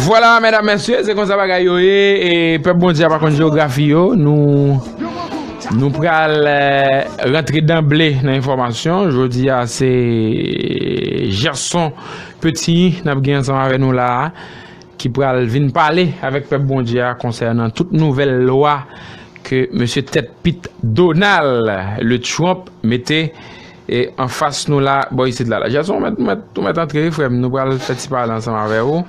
Vwala medam mesye se konsa bagay yo ye e pèp Bondye a pa konn jewografi yo nou pral rantre danble nan enfòmasyon jodi a se Gerson Petigny n ap gen ansanm avè nou la a ki pral vin pale avèk pèp Bondye a konsènan tout nouvèl lwa ke mesye tèt pit Donald le Trump mete E anfas nou la bò isit la. Lajason ou mèt, ou mèt antre wi frè m, nou pral fè ti pale ansanm avè ou.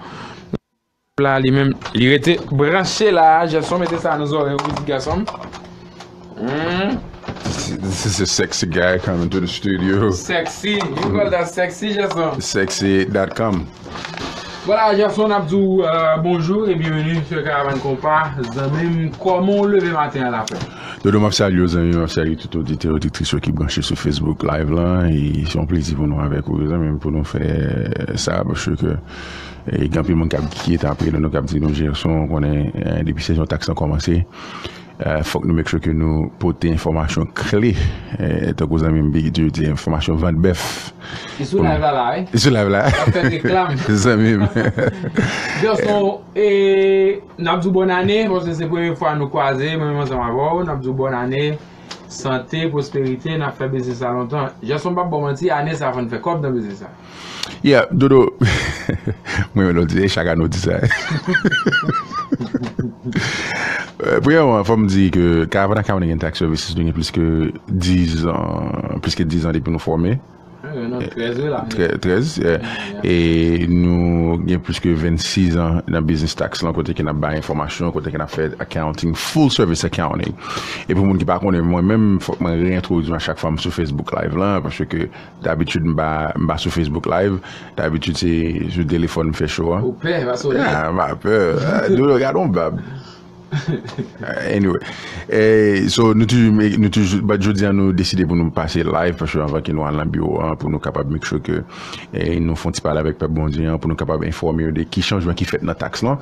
La li menm, li rete branche la, Jason mete sa nan zòrèy ou pitit gason m. This is a sexy guy coming to the studio. Sexy, you call that sexy Jason? Sexy dot com. Voilà Gerson ap di w bonjou e byenveni sou Karavàn Konpa zanmi m kòman w leve maten an la frè m? Dodo map salye w zanmi m ap salye tout oditè oditris yo ki branche sou Facebook live lan e se yon plezi pou nou avèk ou zanmi m pou nou fè sa paske ke gen anpil moun kap ki ret apre nou kap di nou Gerson ou konnen depi sezon taks lan kòmanse Fòk nou make sure ke nou pote enfòmasyon kle tankou zanmi m Bigit toujou di enfòmasyon vant bèf. Li sou live la la wi. Li sou live la. Lap fè reklam. Zanmi m. Garçon e nap di w bòn ane paske se premye fwa nou kwaze mwen menm ansanm avè w nap di w bòn ane sante pwosperite nap fè biznis la lontan. Garçon m pap ba w manti ane sa fò n fè kòb nan biznis la. Yeah dodo Mwen renmen lè w di sa, e chak ane w di sa Premyèman fò m di ke Karavana Caribbean Tax Services nou gen plis ke 10 an plis ke 10 an depi nou fòme Gen nou 13 wi la 13 yeah E nou gen plis ke 26 an nan biznis taks lan kote ke n ap bay enfòmasyon kote ke n ap fè accounting full service accounting E pou moun ki pa konnen mwen menm fòk mwen re-entwodui m a chak fwa m sou Facebook live lan paske Dabitid m pa sou Facebook live dabitid se sou telefòn m fè show an. Ou pè pa sonè. Ah m pa pè Dodo gad on bab anyway so nou toujou but jodi an nou deside pou nou pase live paske anvan ke nou al nan biwo an pou nou kapab make sure ke nou fon ti pale avèk pèp Bondye an pou nou kapab enfòme yo de ki chanjman ki fèt nan taks lan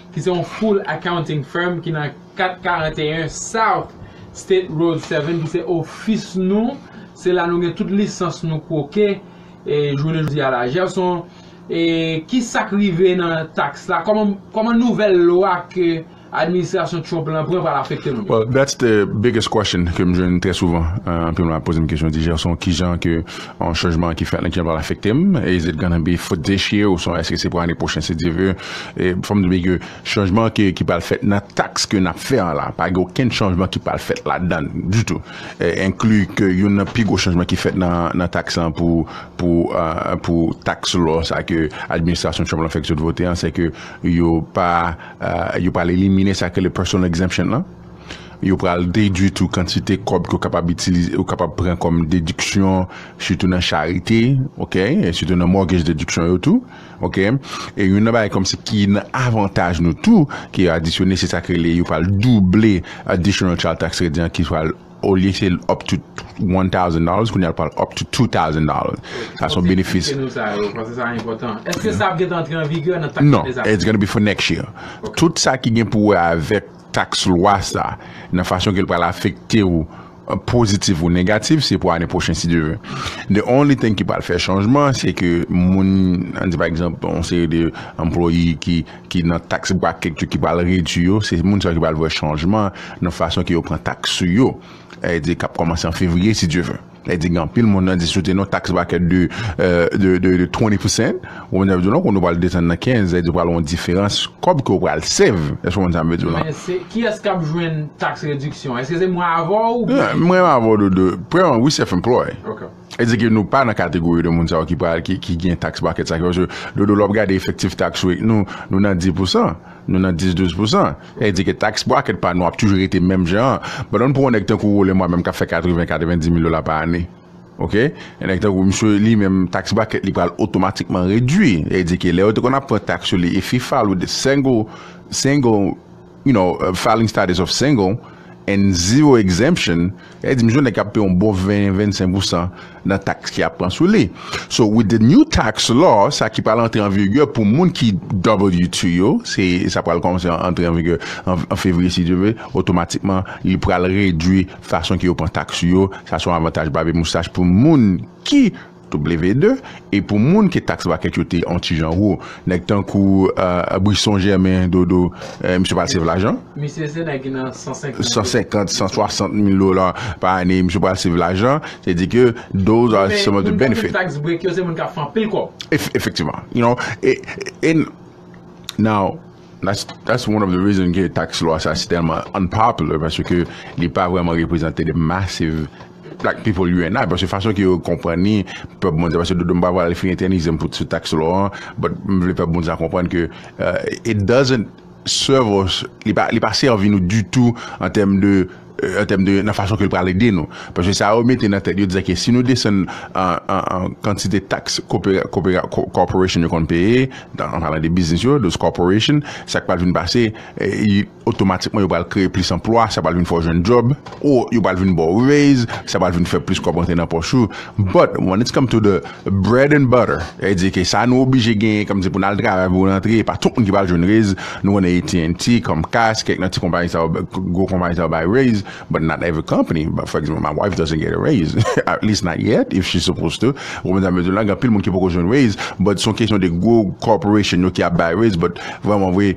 ki se yon full accounting firm ki nan 441 South State Road 7 ki se ofis nou, se la nou gen tout lisans nou kwoke jounen jodi a la. Gerson, ki sa k rive nan taks la? Kòman nouvèl lwa ke administrasyon Trump lan pran pral afekte nou? Well, that's the biggest question ke m jwenn trè souvan. Anpil moun ap poze m kesyon, di Gerson, kijan ke Yon chanjman ki fèt nan kijan l pral afekte m? Is it gonna be for this year? Oswa èske se pou ane pwochen si Dye ve? Fò m di byen ke chanjman ke ki pral fèt nan taks ke n ap fè an la, pa gen okenn chanjman ki pral fèt ladan l ditou. Enkli ke youn nan pi gwo chanjman ki fèt nan taks lan pou pou pou taks lò sa ke administrasyon Trump lan fèk sot vote an, sèke yo pa yo pral elimine sa yo rele personal exemption lan. Yo pral dedwi tou kantite kòb ke w kapab itilize, ou kapab pran kòm dediksyon sitou nan charite ok, e sitou nan mortgage dediksyon yo tou ok. E youn nan bagay kòm se ki nan avantaj nou tou ke yo adisyone se sa ki rele yo pral double additional child tax credit an ki pral olye se up to one thousand dollars kounye a l pral up to two thousand dollars. Sa son benefis. Eksplike nou sa yo paske sa enpòtan. Eske sa ap gentan antre an vigè nan tax ane sa? Non, it's gonna be for next year. Tout sa ki gen pou wè avèk. Taks lwa sa, nan fason ke l pral afekte ou positif ou negatif, se pou ane pwochen si Dye ve. The only thing ki pral fè chanjman, se ke moun, an di pa egzanp, yon seri de anplwaye ki ki nan taks bracket yo ki pral redwi yo, se moun sa yo ki pral wè chanjman nan fason ke yo pran taks sou yo, e di k ap kòmanse an fevriye si Dye ve. Lè di gen anpil moun nan di sou te nou tax bracket de 20 percent ou konn sa m di w non kounye w pral desann nan 15 lè di pral gon diferans kòb ke w pral save èske w konn sa m vle di w lan. Men kiyès kap jwenn tax reduction èske se mwen avè w ou byen. Mwen menm avè w Dodo premyèman wi self employ e di ke nou pa nan kategori de moun sa yo ki pral ki gen tax bracket sa ke paske Dodo lè w ap gade efektif tax rate nou nou nan 10 pousan. Nou nan 10 12 pousan. Sa vle di ke tax bracket pa nou ap toujou rete menm jan an. Ban nou pran yon nèg tankou Rollin mwa menm kap fè 80 90 mil dola pa ane. Ok. Yon nèg tankou misye li menm tax bracket li pral otomatikman redwi. Sa vle di ke lè yo te konn ap pran tax sou li if he file with the single single you know filing status of single and zero exemption. Li di misye nèg kap peye yon bon 20, 25 pousan nan taks ki ap pran sou li. So with the new tax law, sa ki pral antre an vigè pou moun ki W-2 yo, se sa pral kòmanse antre an vigè an fevriye si Dye ve, otomatikman li pral redwi fason ke yo pran taks yo, sa son avantaj babe moustache pou moun ki. W2, e pou moun ke tax bracket yo te on ti jan wo, nèg tankou Brisson Germain, Dodo, misye pral save lajan. Misye se nèg ki nan 150. 150, 160 mil dola pa ane, misye pral save lajan, se di ke those are some of the benefits. Moun ki tax break yo se moun kap fè anpil kòb. Efektivman, you know, e, e, now. That's one of the reason ke tax lwa sa si tèlman unpopular paske ke li pa vreman reprezante the massive black people you and I paske fason ke yo konprann ni pèp moun sa paske dodo m pa vle al fè entènizem pou sou tax lwa an but m vle pèp moun sa konprann ke it doesn't serve us li pa sèvi nou ditou an tèm de an tèm de nan fason ke l pral ede nou. Paske sa yo mete nan tèt yo dizè ke si nou desann kantite taks corporation yo konn peye, an palan de biznis yo, those corporation, sa k pral vin pase, otomatikman yo pral kreye plis anplwa, sa pral vin fè w jwenn djòb, ou yo pral vin ba w raise, sa pral vin fè plis kòb rantre nan pòch ou. But when it's come to the. Bread and butter, sètadi ke sa nou oblije genyen kòmsi pou n al travay pou n antre, e pa tout moun ki pral jwenn raiz, nou konnen AT&T, Comcast, kèk nan ti konpayi sa yo, gwo konpayi sa yo bay raiz, but not every company, for example my wife doesn't get a raiz, at least not yet, if she's supposed to, ou konprann sa m vle di w la, gen anpil moun ki poko jwenn raiz, but son kesyon de gwo corporation yo ki ap bay raiz, but vrèman vre,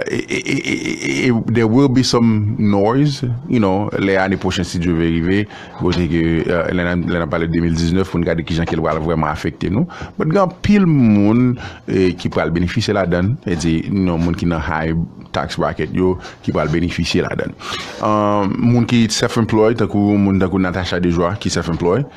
e there will be some noise, you know, lè ane pwochen si Dye vle rive. Kote ke lè nan lè nan pale 2019 pou n gade kijan ke l pral vrèman afekte nou. But gen anpil moun ki pral benefisye ladann, e di nan moun ki nan high tax bracket yo ki pral benefisye ladann. Moun ki self employed tankou moun tankou Natacha Dejoie ki self employed,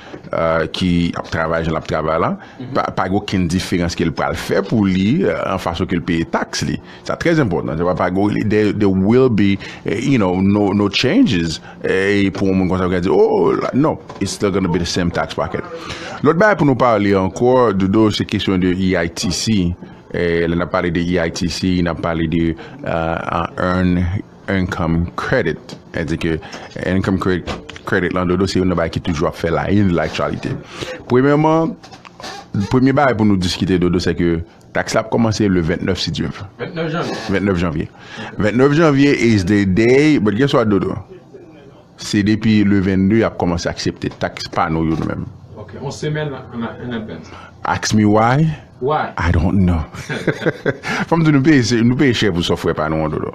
ki ap travay jan l ap travay la, pa gen okenn diferans ke l pral fè pou li an fason ke l peye tax li. Sa trè enpòtan, se pa pa go rele there will be you know no changes e pou yon moun konsa ka di oh non it's still gonna be the same tax bracket. Lòt bagay pou nou pale ankò Dodo se kesyon de EITC e lè nan pale de EITC nan pale de earn income credit e di ke earn income credit lan Dodo se yon nan bagay ki toujou ap fè la in laktyalite. Premyèman premye bagay pou nou diskite Dodo se ke Taks la ap kòmanse le 29 si Dye vle. 29 janvye? 29 janvye. 29 janvye is the day, but guess what Dodo? Se depi le 22 y ap kòmanse aksepte taks pa nou yo nou menm. Ok, yon semèn an advance. Ask me why? Why? I don't know. Fò m di w nou peye chè pou sòfwè pa nou an Dodo.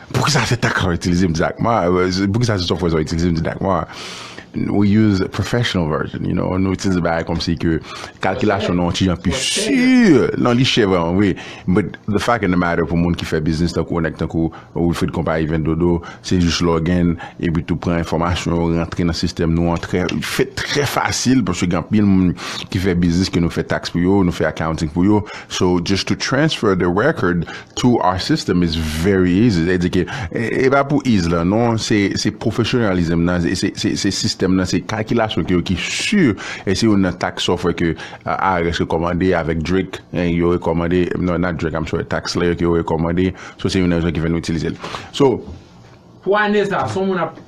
Poukisa se tax ou itilize m didakma? Poukisa se software sa ou itilize m didakma? We use professional version, you know, nou itilize bagay kòmsi ke kalkilasyon nou an ti jan pi sur, nan li chè vreman vre, but the fact and the matter pou moun ki fè biznis tankou ou, nèg tankou Wilfrid konpayi Vin Dodo, se jis log in epi tou pran enfòmasyon yo rantre nan sistèm nou an trè, fèt trè fasil paske gen anpil moun ki fè biznis ke nou fè tax pou yo, nou fè accounting pou yo, so just to transfer the record To our system is very easy sa di ke e pa pou ease lan non se se professionalism nan se se sistèm nan se kakilasyon ke yo ki sur e se yon nan tax software ke IRS rekomande avèk Drake eh, yo rekomande non not Drake I'm sorry tax layer ke yo rekomande so se yon nan rezon ki fè nou itilize l so Pou ane sa, son moun ap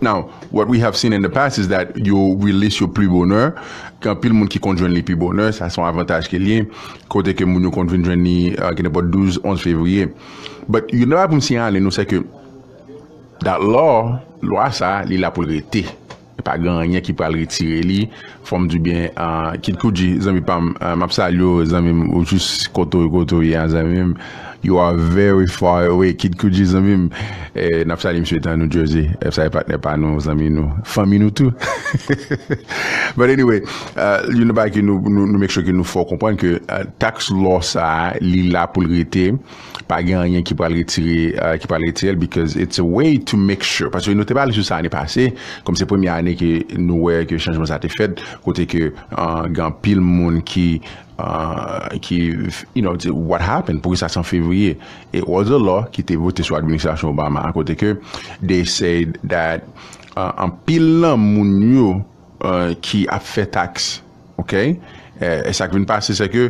Now, what we have seen in the past is that yo release yo pli bonè, gen anpil moun ki konn jwenn li pi bonè, sa se yon avantaj ke li ye, kote ke moun yo konn vin jwenn li gen nenpòt 12, 11 fevriye. But youn nan bagay pou m siyale nou se ke that law, lwa sa, li la pou l rete. Pa gen anyen ki pral retire li. Fòm di byen Kid Cudi zanmi pam map salye w zanmim ou jis kote w ye a zanmim you are very far away Kid Cudi zanmim nap salye misye etan New Jersey ep salye patnè pa nou zanmi nou fanmi nou tou but anyway youn nan bagay ke nou make sure ke nou fè w konprann ke tax law sa li la pou l rete. pa gen anyen ki pral retire ki pral retirel because it's a way to make sure paske nou te pale sou sa ane pase kòm se premye ane ke nou wè ke chanjman sa te fèt kote ke gen anpil moun ki ki you know what happened pou ki sa se an fevriye it was a law ki te vote sou administrasyon Obama a kote ke they said that anpil nan moun yo ki ap fè taks Ok e sak vin pase se ke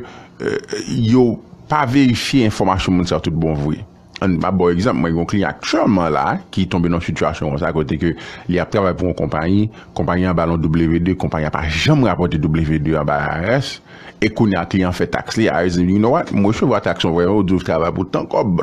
yo pa verifye enfòmasyon moun sa yo tout bon vre. An map baw egzanp mwen gen yon kliyan aktyèlman la ki tonbe nan yon sitiyasyon konsa kote ke li ap travay pou yon konpayi, konpayi an bal yon W2, konpayi an pa janm rapòte W2 an bay IRS e kounya kliyan an fè taks li, IRS di you know what, m resevwa taks lan vre men ou di ou travay pou tan kòb.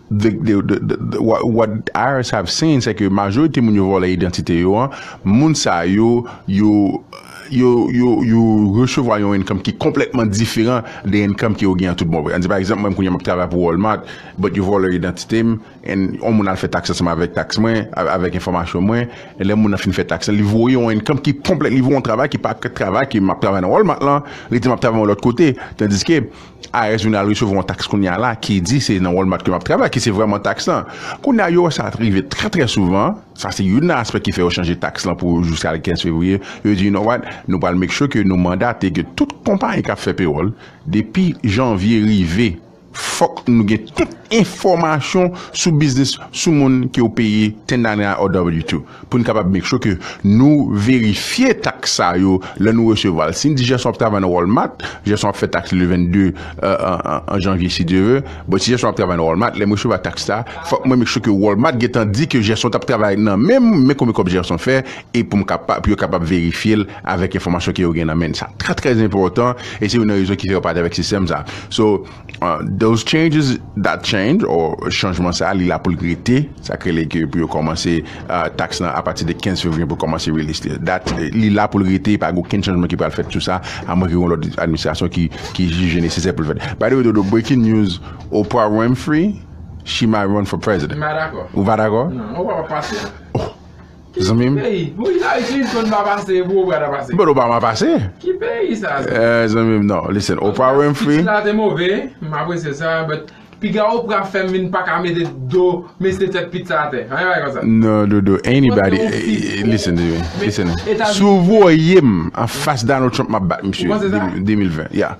What irs have seen se ke majorite moun yo vòlè idantite yo an, moun sa yo, yo yo resevwa yon income ki konplètman diferan de income ke yo gen an tout bon vre. An di pa egzanp mwen kounye a map travay pou Walmart but yo vòlè idantite m and yon moun al fè tax ansanm avèk tax mwen, avèk enfòmasyon mwen, e lè moun nan fin fè tax lan li voye yon income ki konplèt, li voye yon travay ki pa travay ke map travay nan Walmart lan, li di map travay yon lòt kote, tandiske. IRS vin al resevwa yon taks kounye a la ki di se nan Walmart ke m ap travay, ki se vrèman taks lan. Kounye a, yo wè sa rive trè trè souvan, sa se youn nan aspè ki fè yo chanje taks lan pou jiska le 15 fevriye, yo di you know what, nou pral make sure ke nou mandate ke tout konpayi k ap fè pewòl, depi janvye rive, fòk nou gen tout enfòmasyon sou biznis, sou moun ke yo peye 1099 or W-2. Pou n kapab make sure ke nou verifye taks sa yo lè nou resevwa l. Si n di Jèson ap travay nan Walmart, Jèson ap fè taks li le 22 janvye si Dye ve. Bon, si Jèson ap travay nan Walmart, lè m resevwa taks la, fòk mwen make sure ke Walmart gen tan di ke Jèson t ap travay nan men m, men konbyen kòb Jèson fè, e pou m kapab, pou yo kapab verifye l avèk enfòmasyon ke yo gen nan men. Sa trè trè enpòtan e se youn nan rezon ki fè yo pa t avèk sistèm sa. So. Those changes, that change, or chanjman sa a li la pou l rete, sa k rele ke pou yo kòmanse taks lan apati de 15 fevriye pou kòmanse release li. Dat li la pou l rete, e pa gen okenn chanjman ki pral fèt sou sa, amwenke gen yon lòt administrasyon ki jije nesesè pou l fèt. By the way Dodo, breaking news, Oprah Winfrey, she might run for president. M pa dakò. Ou pa dakò? Non, Oprah pap pase. Zanmim. But Obama pase. Zanmim non listen Oprah Winfrey. Non dodo anybody listen to me. Si ou voyem anfas Donald Trump map bat misye 2020 yeah.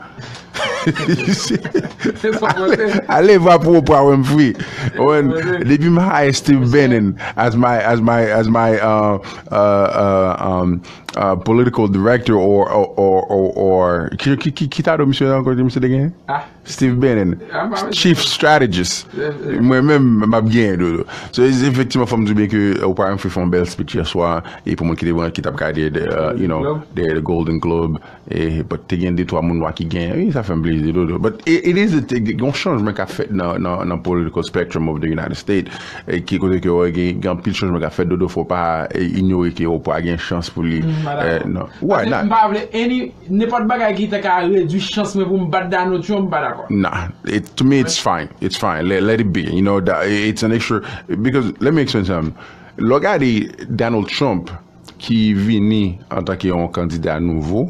Ale vwa pou Oprah Winfrey. Depi m high Steve Bannon as my uh, uh, um, uh, political director or ki tatou misye ankò ke misye te gen? Ah. Steve Bannon. Chief strategist. Mwen menm m ap gen dodo. So efektivman fòm di byen ke Oprah Winfrey fè yon bèl speech yèswa e pou mwen ki te ki t ap gade you know the Golden Globe. But te gen de twa moun nwa ki genyen wi sa fèm plezi dodo but it is a thing gon chanjman kap fèt nan political spectrum of the United States ki kote ke wè gen anpil chanjman kap fèt dodo fò pa inyore ke Oprah gen chans pou li why not mpa vle any nenpòt bagay ki ta ka redwi chans mwen poum bat Donald Trump mpa dakò nah to me it's fine it's fine let it be you know it's an extra because let me explain something lè w gade Donald Trump. ki vini antanke yon kandida nouvo,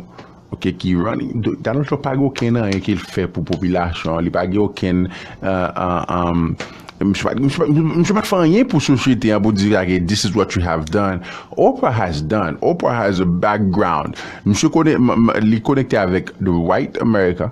ok, ki running, Donald Trump pa gen okenn anyen ke l fè pou popilasyon an, li pa gen okenn, misye pa, misye pa t fè anyen pou sosyete an pou di sa ke this is what you have done, Oprah has done, Oprah has a background, misye konnen, li konekte avèk the white America.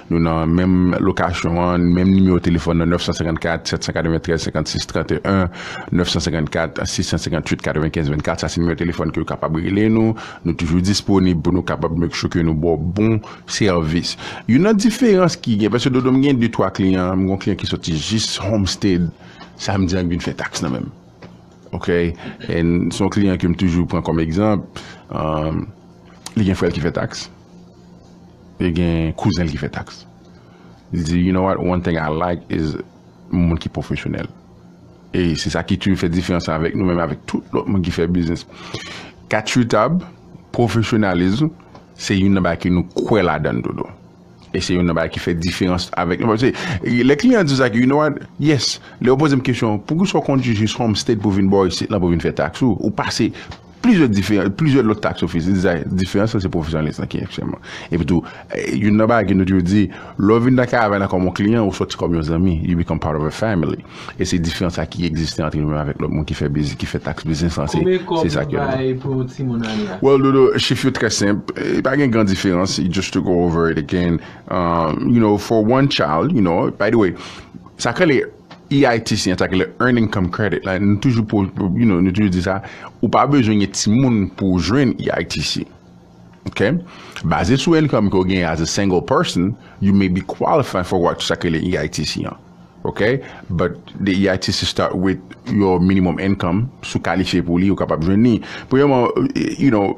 Nou nan menm lokasyon an, menm nimewo telefòn nan, 954 793 56 31, 954 658 95 24, sa se nimewo telefòn ke yo kapab rele nou, nou toujou disponib pou nou kapab make sure ke nou ba w bon sèvis. Youn nan diferans ki gen, paske Dodo m gen de twa kliyan, m gen yon kliyan ki soti jis Homestead samdi an ki vin fè taks nan men m, ok, and se yon kliyan ke m toujou pran kòm egzanp, li gen frè l ki fè taks. Li gen kouzen l ki fè taks. Li di you know what one thing I like is moun ki pwofesyonèl. E se sa ki toujou fè diferans la avèk nou menm avèk tout lòt moun ki fè biznis. Kat sou tab, pwofesyonalism se youn nan bagay ke nou kwè ladan dodo. E se youn nan bagay ki fè diferans avèk nou. Paske lè kliyan di w sa ke you know what yes lè yo poze m kesyon poukisa w kondwi jis Homestead pou vin bò isit lan pou vin fè taks ou, ou pase. Plizyè lòt taks ofis, li dizay, diferans lan se pwofesyonalis lan ki enchèman. Epi tou, youn nan bagay ke nou toujou di, lè w vin nan kay avè nan kòm yon kliyan, ou sòti kòm yon zanmi, you become part of a family. E se diferans sa ki egziste antre nou menm avèk lòt moun ki fè bizi, ki fè taks biznis lan, se sa ki enpòtan. Well Dodo, chif yo trè senp, li pa gen gran diferans, just to go over it again, you know, for one child, you know, by the way, sa k rele, EITC, Intacular Earning Come Credit, la, nou toujou po, you know, nou toujou di sa, ou pa bezwen gen timoun pou w jwenn EITC. Ok? Baze sou income ke w genyen as a single person, you may be qualify for what sa ki rele EITC an. Ok? But the EITC start with your minimum income, si w kalifye pou li, ou kapab jwenn li. Premyèman, you know,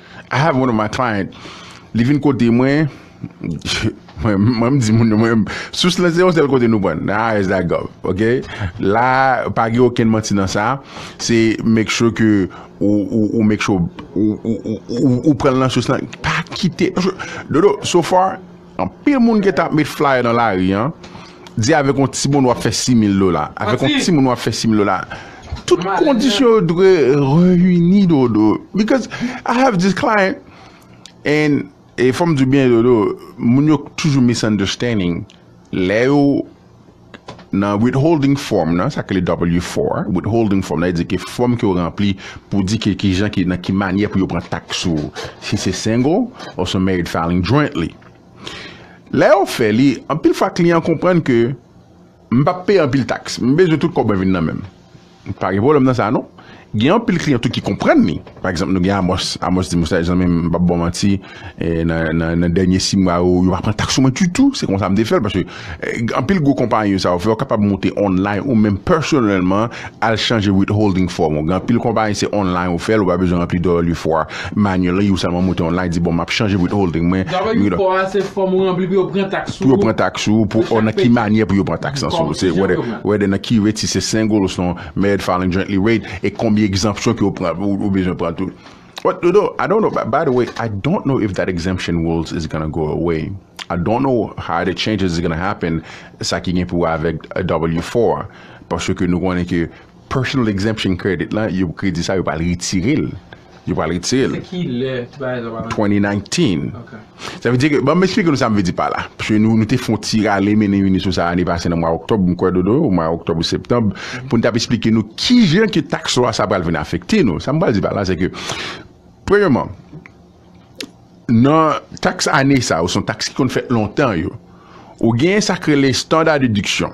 I have one of my client li vin kote mwen mwen m di moun yo mwen sous lan se yon sèl kote nou pran nan irs.gov ok la pa gen okenn manti nan sa se make sure ke ou make sure ou pran nan sous lan pa kite dodo so far Anpil moun gentan ap met flyer nan lari an di avèk yon timoun wap fè 6000 dola avèk yon timoun wap fè 6000 dola tout kondisyon yo dwe reyini dodo because I have this client and e fòm diw byen dodo moun yo toujou misunderstanding lè yo Nan withholding form nan, sa ki rele W-4, withholding form nan, e di ke fòm ke ou ranpli pou di ke ki jan ki, nan ki manyè pou yo pran taks ou, si se single oswa married filing jointly. Lè yo fè li, anpil fwa kliyan konprann ke m p ap peye anpil taks, m bezwen tout kòb mwen vin nan men m. Pa gen pwoblèm nan sa non. Gen anpil kliyan tou ki konprann li. Pa egzanp nou gen Amòs. Amòs di m, Moustache zanmi m, m pap ba w manti, nan dènye si mwa yo, yo pa pran taks sou mwen ditou. Se konsa m te fè l. Paske anpil gwo konpayi sa yo fè, ou kapab moute online ou menm pèsonèlman al chanje withholding form ou. Gen anpil konpayi se online ou fè l, ou pa bezwen ranpli 2 li fwa. Manually ou sèlman moute yon line di bon map chanje withholding mwen. Dapre ki fò a se fòm ou ranpli pou yo pran taks sou ou. Pou yo pran taks sou ou pou ou nan ki manyè pou yo pran taks lan sou ou se whether nan ki rate si se single osnon married filing jointly rate e konbyen exemption ke ou pran ou bezwen pran tou. What to do I don't know by the way I don't know if that exemption rules is gonna go away I don't know how the changes is gonna happen sa ki gen pou wè avèk W four a paske nou konnen ke Partial exemption credit lan yo kredi sa yo pral retire l yo pral retire l Se ki lè ti bagay sa pral antre? 2019 Sa vle di ke banm esplike nou sa m vle di pa la paske nou te fon ti rale mennen vini sou sa ane pase nan mwa oktòb m kwè Dodo ou mwa oktòb ou septanb pou n t ap esplike nou kijan ke taks lwa sa pral vin afekte nou sa m pral di pa la se ke premyèman nan taks ane sa yo se yon taks ki konn fèt lontan yo ou gen sa k rele standard deduction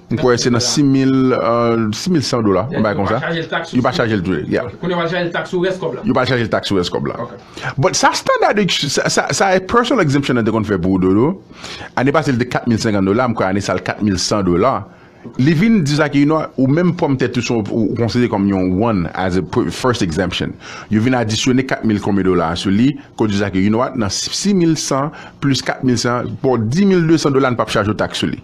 M kwè se nan 6100 dola, yon bagay konsa. Yo pa chaje l tou. Kounye yo pral chaje l taks sou rès kòb la. Yo pral chaje l taks sou rès kòb la. But sa standard sa personal exemption an te konn fè pou ou Dodo, ane pase l te 4050 dola, m kwè ane sa l 4100 dola. Li vin di sa ke you know what, ou menm pwòm tèt ou se yon, ou konsidere kòm yon one as a first exemption. Yo vin adisyone 4000 konbyen dola a sou li, ke w di sa ke you know what, nan 6100 plis 4100, bon 10200 dola n pap chaje w taks sou li.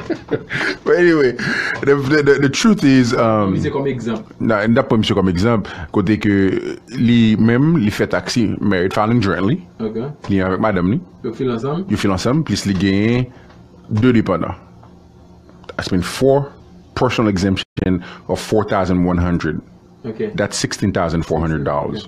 But anyway, the truth is, Pran misye kòm egzanp. nan, n tap pran misye kòm egzanp, kote ke li menm li fè taksi, married filing jointly, Ok. li yon avèk madanm li, Yo fil ansanm? yo fil ansanm, plis li genyen 2 depandan. That's mean 4 personal exemption of 4,100. Ok. That's 16,400 dollars.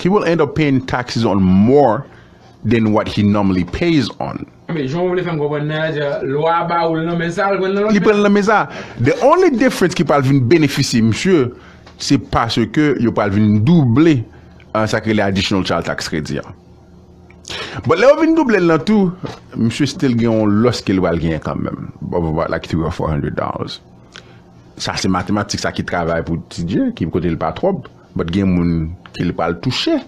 He will end up paying taxes on more than what he normally pays on. Anmweyy jan ou vle fèm konprann nan la se lwa a ba oul nan men sa al prann nan lòt men. Li pranl nan men sa. The only difference ki pral vin benefisye misye se paske yo pral vin double sa ki rele additional child tax credit an. But lè yo vin doublel nan tou misye still gen yon loss kel pral genyen kanmenm of about like three or four hundred dollars. Sa se matematik sa ki travay pou TJ ki kotel pa twòp. But gen moun ke li pral touche.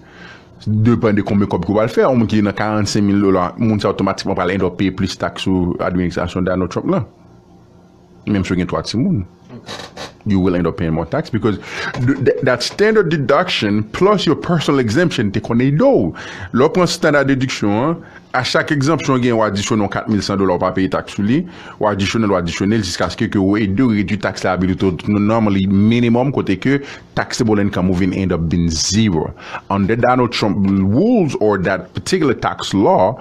Depan de konbyen kòb ke w pral fè. Yon moun ki nan 45 mil dola, moun sa otomatikman pral end up peye plis taks sou administrasyon Donald Trump lan. Menm si w gen 3 timoun. You will end up paying more tax because that standard deduction plus your personal exemption te konn ede w. Lè w pran standard deduction an, A chak egzanpsyon gen ou adisyone yon 4100 dola ou pa peye taks sou li, ou adisyone l ou adisyone l jiskaske ke ou ede ou redwi taks liability to the normally minimum kote ke taxable income ou vin end up vin zero. Under Donald Trump rules or that particular tax law,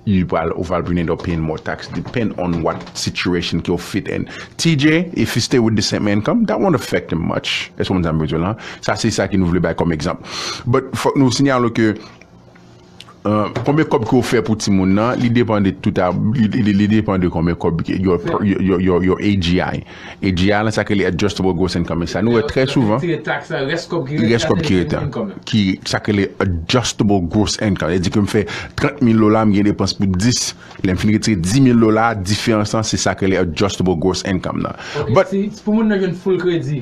li pral ou pral vin end up paying more tax depend on what situation ke ou fit in. TJ, if he stay with the same income, that won't affect him much. Èske w konprann sa m vle di w la? Sa se sa ke nou vle bay kòm egzanp. But fòk nou sinyale w ke. Konbyen kòb ke ou fè pou timoun nan, li depan de tout a, li depan de konbyen kòb yo AGI. AGI lan sa ke li Adjustable Gross Income men sa nou wè trè souvan. Retire taks la, rès kòb ki rete a. Rès kòb ki rete a. Ki sa ke li Adjustable Gross Income. Sa di ke m fè 30 mil dola, m gen depans pou 10. Lè m fini retire 10 mil dola, diferans lan se sa ke li Adjustable Gross Income nan. Ok, si pou moun nan jwenn full kredi.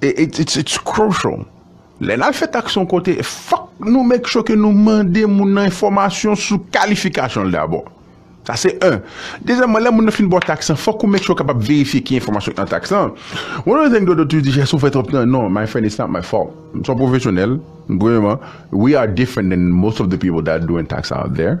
It's crucial lè nap fè tax yon kote fòk nou make sure ke nou mande moun nan enfòmasyon sou kalifikasyon l dabò sa se 1 dezyèmman lè moun nan fin ba w tax lan fòk ou make sure w kapab verifye ki enfòmasyon ki nan tax lan one of the thing Dodo toujou di jès ou fè twòp nan non my friend it's not my fault m son pwofesyonèl premyèman we are different than most of the people that doing tax out there.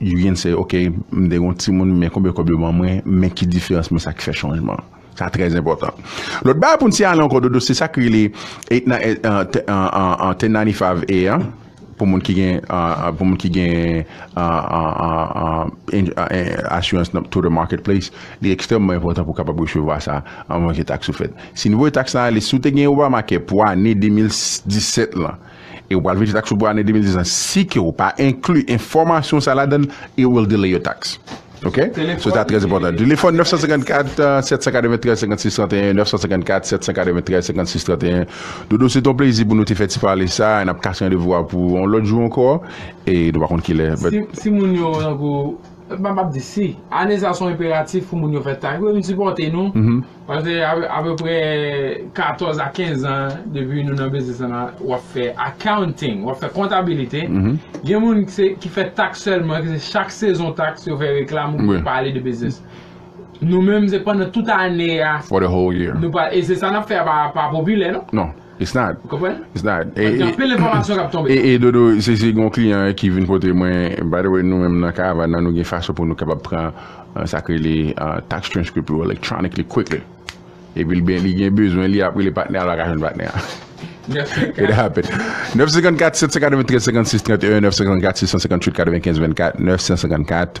You can say, ok, m te gen yon timoun, men konbyen kòb yo ban mwen, men ki diferans men sa ki fè chanjman an. Sa trè enpòtan. Lòt bagay pou n siyale ankò Dodo, se sa k rele 1095-A an, pou moun ki gen pou moun ki gen asirans nan Total Marketplace, li ekstrèmman enpòtan pou w kapab resevwa sa anvan ke taks yo fèt. Si nouvo taks la ale, si w te gen Obamacare pou ane 2017 lan, e ou pral veye taks ou pou ane 2010 lan si ke ou pa enkli enfòmasyon sa ladan l it will delay your tax ok so sa trè enpòtan telefòn 954 793 56 31 954 793 56 31 dodo se ton plezi pou nou te fè ti pale sa e n ap kase randevou a pou yon lòt jou ankò e nou pa konn kilè but Si si moun yo tankou m pa m ap di si ane sa son enperatif pou moun yo fè taks yo vin sipòte nou Pase apeprè 14 a 15 zan depi nou nan biznis lan w ap fè accounting, w ap fè kontabilite. Gen moun ki fè taks sèlman, ki se chak sezon taks yo fè reklam ou byen pale de biznis. Nou menm se pandan tout ane a, e se sa n ap fè a pa popilè non. It's not. Ou konprann? It's not. Paske gen anpil enfòmasyon k ap tonbe. E, e Dodo, se, se gen yon kliyan ki vin pote mwen, by the way nou menm nan Karavan nan nou gen fason pou nou kapab pran sa k rele tax transcript ou electronically, quickly. Epi l ben, li gen bezwen li, l ap rele patnè a, l pa ka jwenn patnè a. 954. It happen. 954 793 56 31 954 658 95 24 954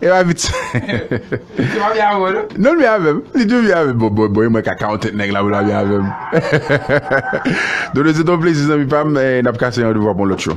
E pa vit sa. Li pa byen avè w non. Non l byen avè m. Li tou byen avè m. Bon bon e mwen ka ka yon tèt nèg la pou l pa byen avè m. Dodo se te yon plezi zanmi pa m. N ap kase randevou a pou yon lòt cho.